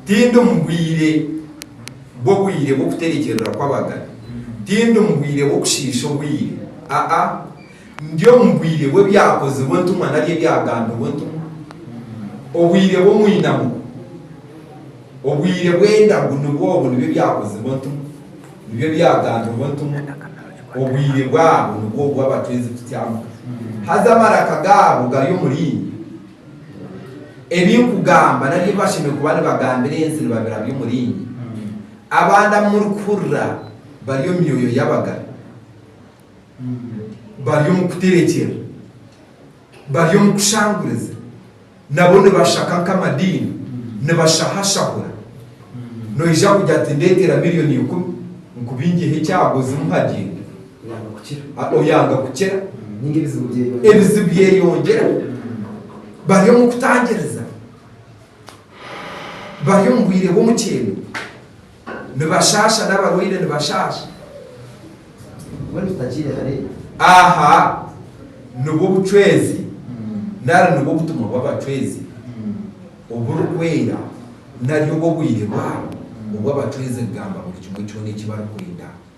Tindi omu bwire bw'obwire bw'okuterekyerera kw'abagane, tindi omu bwire bw'okushiisha obwire, aa, ndi omu bwire bw'Ebyakozirwe Entumwa nari Ebyagambirwe Entumwa, obwire bw'omwinamo, obwire bw'endagu nibwo obwo, nibyo Ebyakozirwe Entumwa, nibyo Ebyagambirwe Entumwa, obwire bwabo nibwo obwo abatwenzi kutyamuka, haza amaraka gaabo gari omuri inywe. Ebi nkugamba nari ebi bashemereire kuba nibagambira ensi nibabira by'omuringi. Abandi abu murikuhurira bari omu myoyo y'abagara, bari omu kuterekyera, bari omu kushanguriza, nabo nibashaka nk'amadiini, nibashahashahura. Noija kugira ati, Ndeetera milioni ikumi, nkubingyeho ekyago, zimuhagire. oyanga kukira, ebizibu byeyongyera, bari omu kutangiriza, bari omu bwire bw'omukyeno, nibashaasha n'abarwaire nibashaasha. Aha nibwo bucwezi nari nibwo butumwa bw'abacwezi oburikwera nari obw'obwire bwabo obw'abacwezi kugamba buri kimwe kyona eki barikwenda.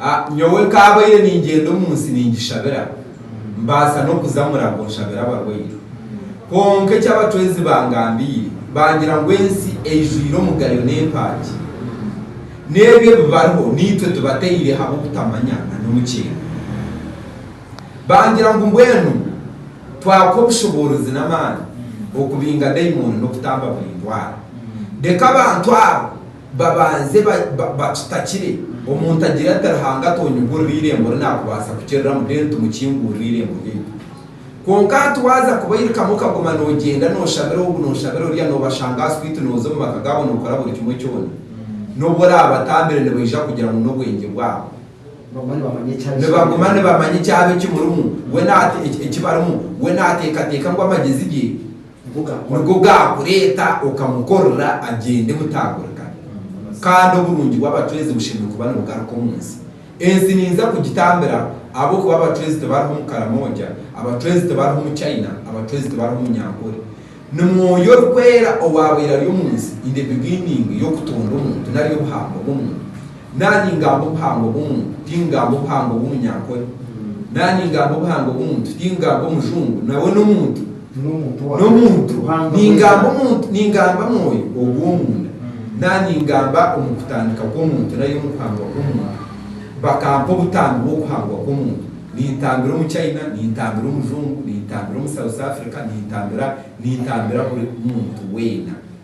A Nyowe nkaabaire ningyenda omu nsi ningishabira, mbaasa n'okuza Murago nshabire abarwaire. Kwonka eki abacwezi bangambiire, bangira ngu ensi eijwire omugayo n'empaagi. N'ebi ebi bariho naitwe tubataire habw'obutamanya na n'omukyenda. Bangira ngu mbwenu twakuha obushoboorozi n'amaani okubinga daimooni n'okutamba buri ndwara. Reka abantu abo Babanze bakitakire. Omuntu agire ati, Ruhanga atonyigurira eirembo ri naakubaasa kukiriramu, mbwenu tumukingurire eirembo ryaitu. Kwonka hati waaza kubairikamu okaguma noogyenda nooshabira ogu nooshabira oriya, noobashanga aha swiiti, nooza omu maka gaabo nookora buri kimwe kyona, n'obu oraabatambire nibaija kugira ngu n'obwengye bwabo. Nibaguma nibamanya ekyaba ekimurimu, we naate, eki barimu, we naateekateeka ngu amagyezi ge. Niko gaakureeta okamukorera agyende butaagurika. Kandi oburungi bw'abacwezi bushemereire kuba nibugaruka omu nsi. Ensi niija kugitambira ahabw'okuba abacwezi tibariho omu Karamoja, abacwezi tibariho omu China, abacwezi tibariho omu Nyankore. Ni Mwoyo Orikwera owaabaire ari omu nsi in the beginning y'okutonda omuntu nari y'obuhangwa bw'omuntu. Nari ningamba obuhangwa bw'omuntu, tingamba obuhangwa bw'omunyankore? Nari ningamba obuhangwa bw'omuntu, tingamba omujungu? Nawe n'omuntu? N'omuntu. Ningamba omuntu, ningamba mwoyo ogw'omunda, nari ningamba omu kutandika kw'omuntu nari omu kuhangwa kw'omuntu? Bakampa obutambi bw'okuhangwa kw'omuntu. Nintambira omu China, nintambira omujungu, nintambira omu South Africa, nintambira, nintambira buri muntu weena.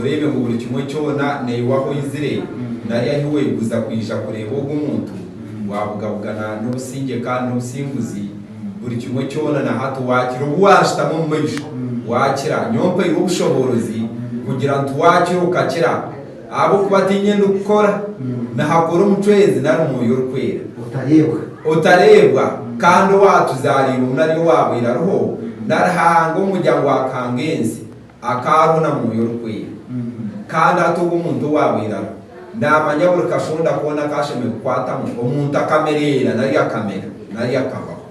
Oreebe ngu buri kimwe kyona naiwe ahu oizire nari ahi weeguza kwija kureeba ogwo muntu, waabugabugana n'obusingye kandi n'obusinguzi, buri kimwe kyona na hati waakira obu waashutama omu maisho, waakira, nyowe mpairwe obushoboorozi kugira nti waakira okakira, ahabw'okuba tiinye ndikukora, nihakora omucweezi nari Mwoyo Orikwera. Otareebwa. Otareebwa, kandi owaatuzaariirwe ngu nari owaabaire ariho, nari hanga omu muryango waakahanga ensi, Akaarwo na Mwoyo Orikwera. Kandi ati ogu omuntu owaabaire ariho naamanya buri kashonda koona aku ashemereire kukwatamu, omuntu akamereera nari akamera nari akabaho.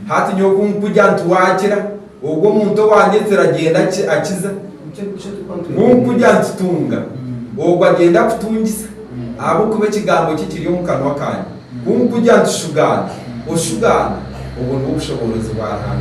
Hati nyowe ku nkugira nti, Waakira, ogwo omuntu owaanyetsire agyenda akiza. Ku nkugira nti, Tunga, ogwo agyenda akutungisa, ahabw'okuba ekigambo kye kiri omu kanwa kaanye. Ku nkugira nti, Shugaana, oshugaana. Obwo nibwo bushoboorozi bwa Ruhanga.